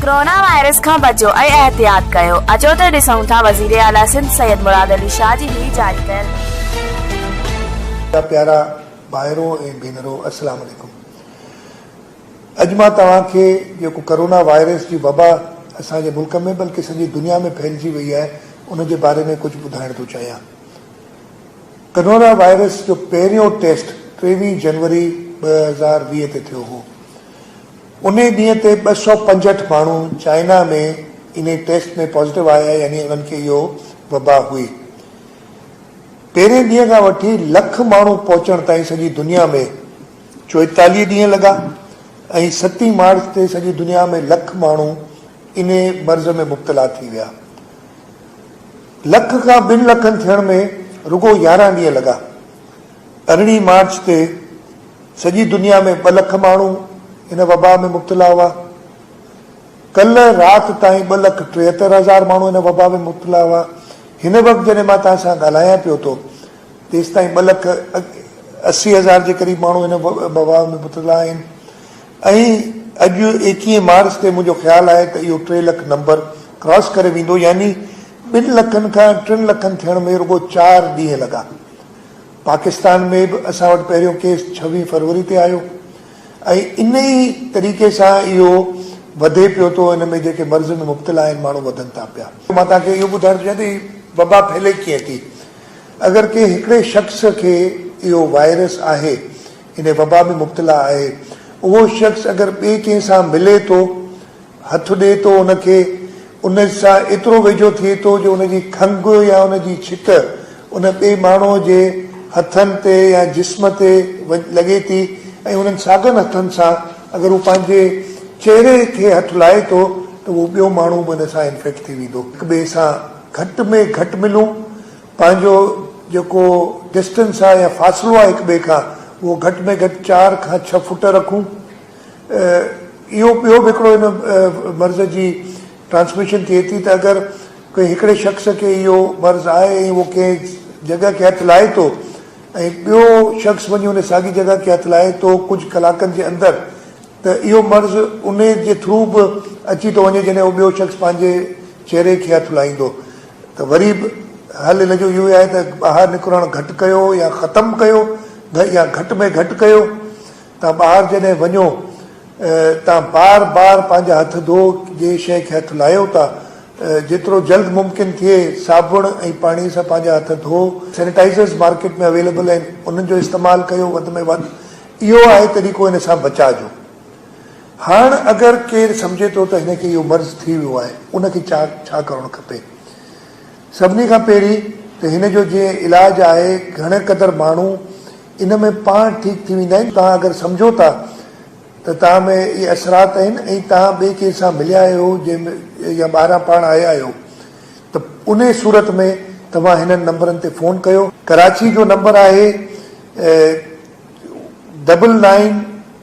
Corona virus کان بچو ۽ احتياط ڪيو، اچو ته ڏسون ٿا وزير اعليٰ سنڌ سيد مراد علي شاهه جي هي جاري ڪيل. منهنجا پيارا ڀائرو ۽ ڀينرو السلام عليڪم اڄ مان توهان کي جيڪو ڪرونا وائرس جي وبا اسان جي ملڪ ۾ بلڪه سڄي دنيا ۾ ڦهلجي وئي آهي ان جي باري ۾ ڪجهه ٻڌائڻ ٿو چاهيان ڪرونا وائرس جو پهريون ٽيسٽ ٽيويهه جنوري ٻه هزار ويهه تي ٿيو هو انهي ڏينهن تي ٻه سؤ پنجهٺ ماڻهو چائنا ۾ انهي ٽيسٽ ۾ پازيٽو آيا يعني انهن کي اهو وبا هئي. پهرين ڏينهن کان وٺي لک ماڻهو پهچڻ تائين سڄي دنيا ۾ چوئيتاليهه ڏينهن لڳا ۽ ستين مارچ تي سڄي دنيا ۾ لک ماڻهو انهي مرض ۾ مبتلا ٿي ويا. لک کان ٻن لکن ٿيڻ ۾ رڳو يارهن ڏينهن لڳا. ارڙهين مارچ تي سڄي دنيا ۾ ٻه لک ماڻهو ان وبا ۾ مبتلا هئا. ڪلهه رات تائين ٻه لک ٽيهتر هزار ماڻهو ان وبا ۾ مبتلا هئا. هن وقت جڏهن مان توهان سان ڳالهايان پيو ٿو تيستائين ٻه لک اسي هزار جي قريب ماڻهو ان وبا ۾ مبتلا آهن ۽ اڄ ايڪيهين مارچ تي منهنجو خيال آهي ته اهو ٽي لک نمبر ڪراس ڪري ويندو يعني ٻن لکن کان ٽن لکن ٿيڻ ۾ رڳو چار ڏينهن لڳا. پاڪستان ۾ به اسان وٽ پهريون ڪيس ڇويهه فروري تي آيو ۽ ان ئي طريقي سان اهو وڌي پيو ٿو ان ۾ جيڪي مرض ۾ مبتلا آهن ماڻهو وڌن ٿا پيا. مان توهان کي اهو ٻڌائڻ ٿو چاهيان ته هي وبا ڦهلي ڪيئن ٿي. اگر ڪنهن هڪڙي شخص کي اهو وائرس آهي ان وبا ۾ مبتلا آهي. اهو شخص اگر ٻئي ڪنهن سان ملي ٿو، هٿ ڏئي ٿو ان کي، ان سان ايترو ويجهو ٿئي ٿو جو ان جي کنگهه يا ان جي ڇڪ ان ٻئي ماڻهوء جي هٿن تي يا جسم تي لڳي ٿي ۽ انهن ساڳن هٿن سان اگر هو پنهنجي چهري کي هٿ لائي ٿو ته اهو ٻيو ماڻهو به ان سان انفيڪٽ ٿي ويندو. هڪٻئي سان گهٽ ۾ گهٽ ملون. پنهنجو جيڪو ڊسٽنس آهي يا فاصلو آهي هڪ ٻئي کان اهو گهٽ ۾ گهٽ چار کان ڇهه فوٽ رکون اهو ٻيو به هڪڙو ان مرض جي ٽرانسميشن ٿئي ٿي ته اگر ڪنهن هڪڙي شخص کي اهو مرض آهي ۽ اهو ڪنهن جڳهه کي هٿ لائي ٿو ۽ ٻيو شخص وڃي ان ساڳي جڳهه کي هٿ لائي ٿو ڪجهه ڪلاڪن جي اندر ته اهو مرض انهي جي ٿرو به اچي ٿو وڃي جڏهن اهو ٻيو شخص پنهنجي چهري کي هٿ لائيندو ته وري به حل ان جو اهو ئي آهي ته ٻاهر نڪرڻ گهٽ ڪيو يا ختم ڪيو يا گهٽ ۾ گهٽ ڪيو. توهان ٻاهر جڏهن وڃو توهان بار بار پنهنجا هٿ ڌو جنهن شيء کي هٿ لاهيو ٿا جيترو جلد ممڪن ٿئي صابڻ ۽ پاڻي سان پنهنجا هٿ ڌو. سينيٽائيزرز مارڪيٽ ۾ اويليبل آهن انهن جو استعمال ڪيو وڌ ۾ وڌ اهو آهي طريقو ان سان بچاء جو. هاڻ اگر ڪير سمجهي ٿو ته هن کي اهو مرض ٿي ويو آهي ان کي ڇا ڇا ڪرڻ کپي؟ سڀني کان پهرين ته هن جو جي علاج آهي گهڻي قدر ماڻهو ان ۾ پاڻ ٺيڪ ٿي ويندا آهن توهان اگر سمجهو ٿا ته توهان ۾ اهي اثرات آهن ۽ توهان ٻئي ڪير سان مليا آهيو جنهن يا ٻاهران پاڻ آيا آهيو ته انهي صورت ۾ توهان هنن نمبرن تي فون ڪيو. ڪراچي جو نمبر آهي ڊبل نائين